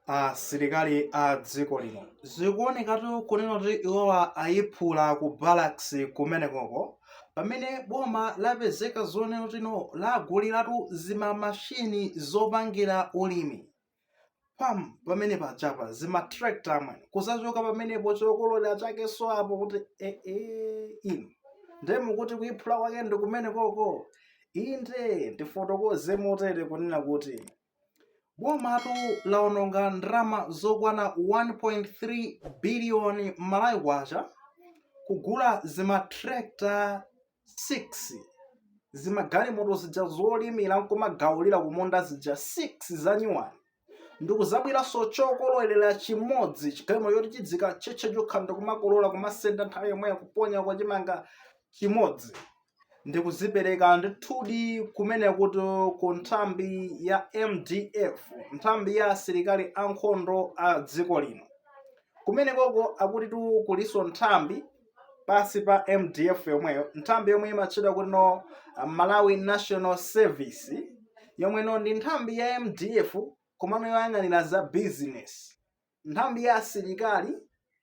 asilikali a dziko lino zikuonekatu kunena kuti iwowa ayiphula ku barracks kumenekoko pamene boma lapezeka zonena kuti no laguliratu zimamashini zopangira ulimi pam pamene pachapa zimatractor amwene kuzachoka pamenepo chokololera chakenso apo kuti ee e, e, inu nde mukuti kuyiphula kwake ndi kumenekoko inde ndifotokoze motere kunena kuti Bomatu laononga ndalama zokwana 1.3 biliyoni Malawi Kwacha kugula zimatractor 6, zimagalimoto zija zolimira n'kumagawulira kumunda zija 6 zanyuwani, ndikuzabwiranso chokololera chimodzi, chigalimoto choti chidzikatchetcha chokha ndikumakolola, kumasenda nthawi yomweyo, kuponya uko chimanga chimodzi. ndikuzipereka ndithudi kumeneko ku nthambi ya mdf nthambi ya asilikali ankhondo a dziko lino kumene koko akutitu kulinso nthambi pansi pa mdf yomweyo nthambi yomwe imatchedwa kuti no malawi national service yomwe no ndi nthambi ya mdf komano yoyang'anira za business nthambi ya asilikali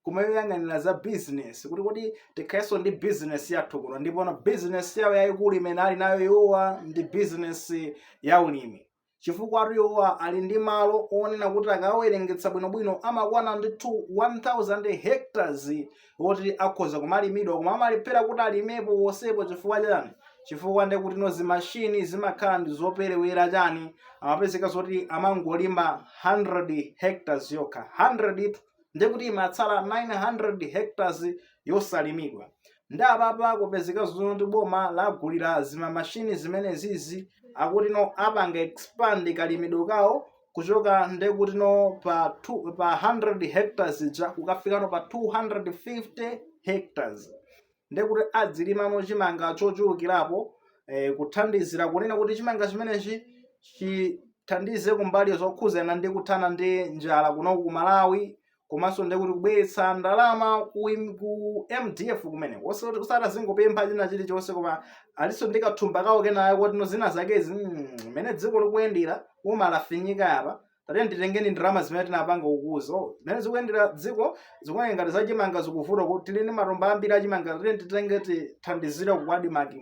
koma yoyang'anira za business kuti kuti tikhalenso ndi business yathu kuno ndipo na business yawo yayikulu imene ali nayo iwowa ndi business ya ulimi chifukwatu iwowa ali ndi malo onena kuti akawerengetsa bwinobwino amakwana ndithu 1000 hectares woti akhoza kumalimidwa koma amalephera kuti alimepo wonsepo chifukwa chani chifukwa ndekuti no zimashini zimakhala ndi zoperewera chani amapezeka zoti amangolima 100 hectares yokha 100 itu ndi kuti imatsala 900 hectares yosalimidwa ndi apapa kupezeka zoti boma lagulira zimamashini zimenezizi akuti no apanga expand kalimidwe kawo kuchoka ndekuti no pa two, pa 100 hectares ija kukafika no pa 250 hectares ndekuti adzilimamo chimanga chochulukirapo eh, kuthandizira kunena kuti chimanga chimenechi chithandize kumbali zokhuzana ndi kuthana ndi njala kuno ku Malawi komanso ndiye kuti kubweretsa ndalama ku, im- ku mdf kumene osati azingopempha china chilichonse koma alinso ndi kathumba kawo kenanso kuti no zina zakezi mm, mmene dziko likuyendera boma lafinyika apa tatene titengeni ndalama zimene tinapanga ukuzo mmene zikuyendera dziko zikuoneka ngati zachimanga zikuvuta kuti tili ndi matumba ambiri achimanga tatene titenge tithandizire ku ADMARC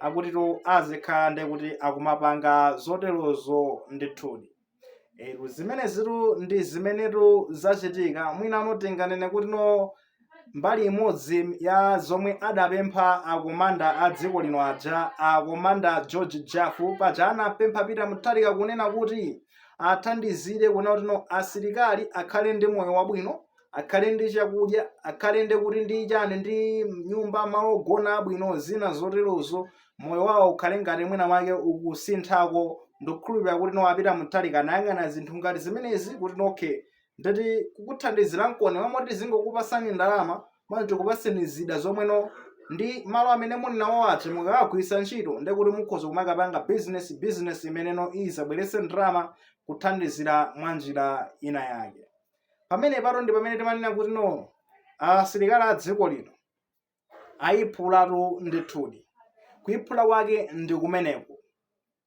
akuti to azikhala ndekuti akumapanga zoterozo ndithudi e, zimenezitu ndi zimenetu zachitika mwinano tinganene kuti no mbali imodzi ya zomwe adapempha akomanda a dziko lino aja akomanda george jafu paja anapempha peter mutharika kunena kuti athandizire kunena kuti no asilikali akhale ndi moyo wabwino akhale ndi chakudya akhale ndi kuti ndi chani ndi nyumba malo ogona abwino zina zoterozo moyo wawo ukhale ngati mwina mwake ukusinthako ndikukhulupirira kuti no a peter mutharika anayang'ana zinthu ngati zimenezi kuti no nde tati kukuthandizira mmalo mmoti tizingokupasani ndalama mwina tikupaseni zida zomwe no ndi malo amene muli nawo oti mukawagwiritsa ntchito nde kuti mukhoza kumakapanga bizinesi bizinesi imeneyo izabweretse ndalama kuthandizira mwa njira ina yake pamene patu ndi pamene timanena kuti no asilikali a dziko lino ayiphulatu ndithudi kuyiphula kwake ndi kumeneko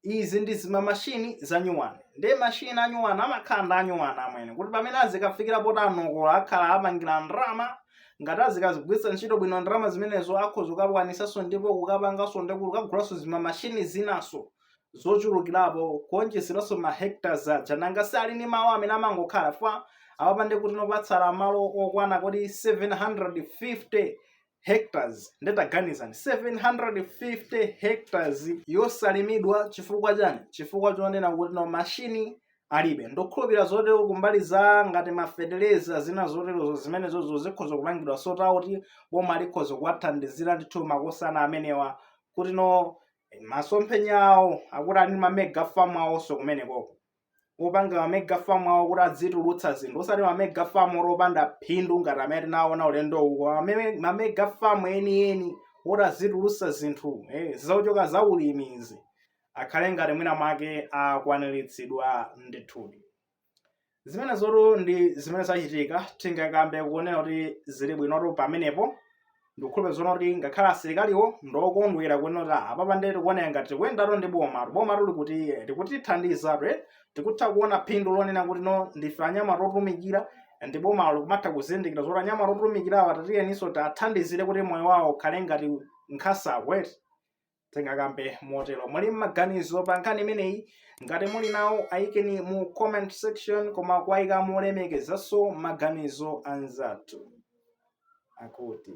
izi ndi zimamashini za nyuwani nde mashini a nyuwani amakhala ndi anyuwani amwene kuti pamene azikafikira poti anokola akhala apangira ndalama ngati azikazigwiritsa ntchito bwino ndalama zimenezo akhoza kukakwanisanso ndipo kukapanganso ndi kuti kukagulanso zimamashini zinaso zochulukirapo kuonjezeranso ma hectares aja nanga si ali ndi malo amene amangokhala fwa apapa nde kuti no patsala malo okwana kodi 750 hectares nde taganizani 750 hectares yosalimidwa chifukwa chani chifukwa chonena kuti no mashini alibe ndikukhulupira zoti kumbali za ngati mafetereza zina zoterozo zimenezonso zikhoza kupangidwa sort out boma likhoza kuwathandizira ndithu makosana amenewa kuti no masomphenya awo akuti ali ndi mamega farm awonso kumenekoko apanga mamega farm awo kuti adzitulutsa zinthu osati mamega farm oti opanda phindu ngati amene tinaona ulendo uko Mame- mamega farm enieni oti azitulutsa zinthu eh, zochoka za ulimi izi akhale ngati mwina mwake akwaniritsidwa ndithudi zimenezotu ndi zimene zachitika tingakambe kunena kuti zili bwinotu pamenepo ndikukhulupira zonena kuti ngakhale asilikaliwo ndokondwera kunena kuti ah, apapa nde tikuoneka ngati tikuyendatu ndi boma boma tu likutithandiza ife tikutha kuona phindu lonena kuti no ndife anyamata otumikira ndi boma likumatha kuzindikira zoti anyamata otumikirawa tatiyeninso tiwathandizire kuti moyo wawo ukhale ngati nkhasa wet tingakambe motero muli mmaganizo pa nkhani imeneyi ngati muli nawo ayikeni mu comment section koma kuwayika molemekezanso maganizo anzathu akuti